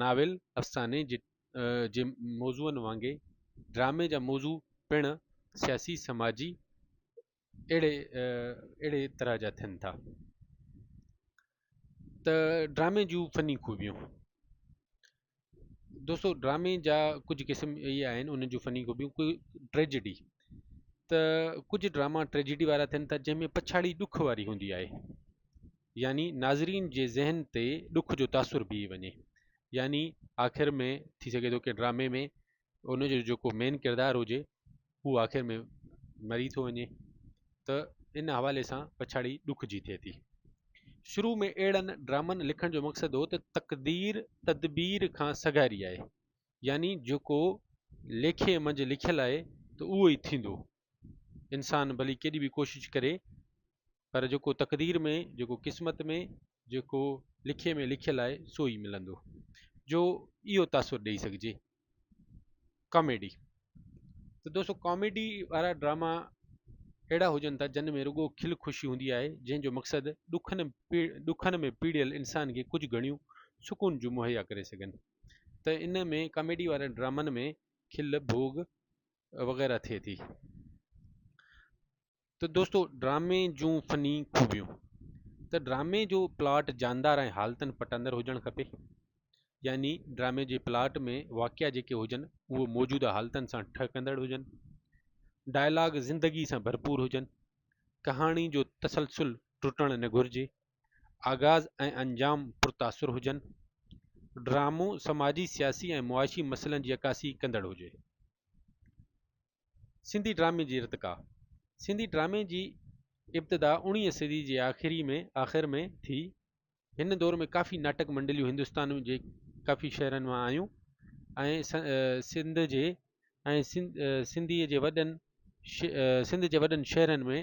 Novel افساني جي موضوعن وانگي ڊرامي جا موضوع پڻ سياسي سماجي اهڙي اهڙي طرح جا ٿين ٿا ته ڊرامي جون فني خوبيون دوستو ڊرامي جا ڪجهه قسم اهي آهن انهن جون فني خوبيون ڪجهه ٽريجڊي ته ڪجهه ڊراما ٽريجڊي وارا ٿين ٿا جنهن ۾ پڇاڙي ڏک واري هوندي آهي يعني ناظرين جي ذهن تي ڏک جو تاثر بيهي وڃي يعني آخر ۾ ٿي سگهي ٿو ڪنهن ڊرامي ۾ ان جو جيڪو مين ڪردار هجي هو آخر ۾ مري ٿو وڃي ته ان حوالي سان پڇاڙي ڏک جي ٿئي ٿي شروع ۾ اهڙن ڊرامن لکڻ جو مقصد هو ته تقدير تدبير کان سگهاري آهي يعني جيڪو ليکي منجهه لکيل آهي ته اهو ئي ٿيندو انسان ڀلي ڪيڏي به ڪوشش ڪري پر جيڪو تقدير ۾ جيڪو قسمت ۾ جيڪو لکي ۾ لکيل آهي سو ئي ملندو جو اهو تاثر ڏيئي سگهجي ڪاميڊي ته دوستو ڪاميڊي وارا ڊراما اهڙا هجن ٿا جن ۾ رڳو کل خوشي هوندي آهي جنهن جو مقصد ڏکن ڏکن ۾ پيڙيل انسان کي ڪجهه گهڻيون سڪون جون مهيا ڪري سگهن ته ان ۾ ڪاميڊي وارن ڊرامن ۾ کل ڀوڳ وغيره ٿئي ٿي ته دوستو ڊرامي جون فني خوبيون ته ڊرامي جو پلاٽ جاندار ۽ حالتن پٽندر هجڻ کپي يعني ڊرامي جي پلاٽ ۾ واقعا جيڪي هجن اهو موجوده حالتن سان ٺهڪندڙ هجن ڊائلاگ زندگي سان ڀرپور هجن ڪهاڻي جو تسلسل ٽٽڻ نه گهرجي آغاز ۽ انجام پر تاثر هجن. ڊرامو سماجي، سياسي ۽ معاشي مسئلن جي عڪاسي ڪندڙ هجي. سنڌي ڊرامي جي ارتقا، سنڌي ڊرامي جي ابتدا اڻيهين صدي جي آخري ۾ آخر ۾ ٿي. هن دور ۾ ڪافي ناٽڪ منڊليون هندستان جي ڪافي شهرن مان آيون ۽ سنڌ جي ۽ سنڌي جي وڏن سنڌ جي وڏن شهرن ۾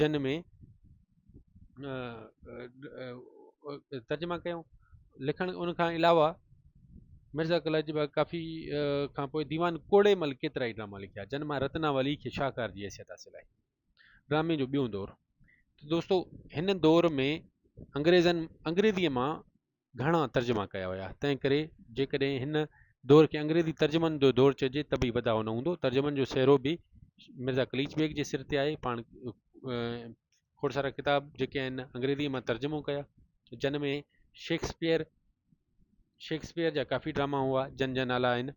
جن ۾ ترجما ڪيو لکڻ ان کان علاوه مرزا قلعه جي بعد ڪافي کان پوء ديوان کوڙي مل ڪيترا ئي ڊراما لکيا جن مان رتنا ولي کي شاهڪار جي حيثيت حاصل آهي ڊرامي جو ٻيو دور دوستو هن دور ۾ انگريزن انگريزيء مان گهڻا ترجما ڪيا ويا تنهن ڪري جيڪڏهن هن دور کي انگريزي ترجمن جو دور چئجي ته به بداء نه هوندو ترجمن جو سهرو به مرزا قليچ بيگ جي سر تي آهي پاڻ کوڙ سارا ڪتاب جيڪي آهن انگريزي مان ترجمو ڪيا جن ۾ شيڪسپيئر شيڪسپيئر جا ڪافي ڊراما هئا جن جا نالا آهن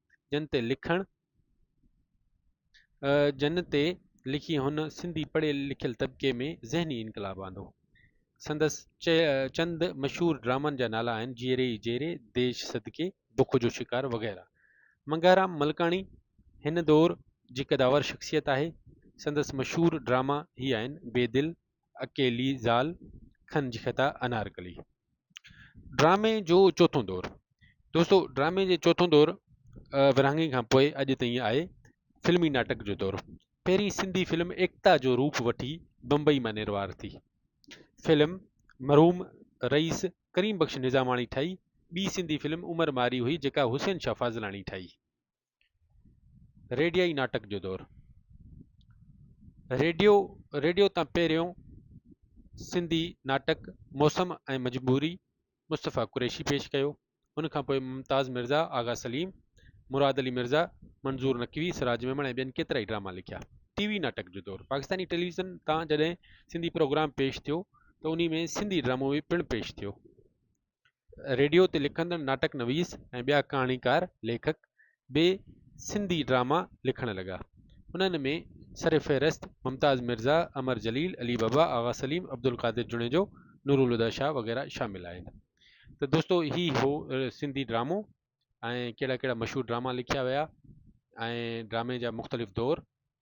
جن تي لکڻ جن تي لکي هن سنڌي پڙهيل لکيل طبقي ۾ ذهني انقلاب آندو سندس چند مشهور ڊرامن جا نالا آهن جيئري ئي جيئري ديش صدقي بک جو شڪار وغيره منگهارام ملڪاڻي هن دور جي قداور شخصيت آهي سندس مشهور ڊراما هي آهن بي دل اڪيلي زال کن جي خطا انارڪلي ڊرامي جو چوٿون دور دوستو ڊرامي جي چوٿون دور ورهاڱي کان پوء اڄ تائين آهي فلمي ناٽڪ جو دور پهرين سنڌي فلم ايڪتا جو روپ وٺي بمبئي مان نروار ٿي فلم مرحوم رئيس ڪريم بخش نظاماڻي ٺاهي ٻي سنڌي فلم عمر ماري هئي جيڪا حسين شاهه فاضلاڻي ٺاهي ريڊيائي ناٽڪ جو دور ريڊيو ريڊيو تان پهريون سنڌي ناٽڪ موسم ۽ مجبوري مصطفيٰ قريشي پيش ڪيو ان کان پوء ممتاز مرزا آغا سليم مراد علي مرزا منظور نقوي سراج ميمڻ ۽ ٻين ڪيترائي ڊراما لکيا ٽي وي ناٽڪ جو دور پاڪستاني ٽيليويزن تان جڏهن سنڌي پروگرام پيش ٿيو ته انهي ۾ سنڌي ڊرامو به پڻ پيش ٿيو ريڊيو تي لکندڙ ناٽڪ نويس ۽ ٻيا ڪهاڻيڪار ليکڪ به سنڌي ڊراما لکڻ لڳا انهن ۾ سرفهرست ممتاز مرزا امر جليل علي بابا آغا سليم عبدالقادر جوڻيجو نورالهديٰ شاهه وغيره شامل آهن ته دوستو هي هو سنڌي ڊرامو ۽ ڪهڙا ڪهڙا مشهور ڊراما لکيا ويا ۽ ڊرامي جا مختلف دور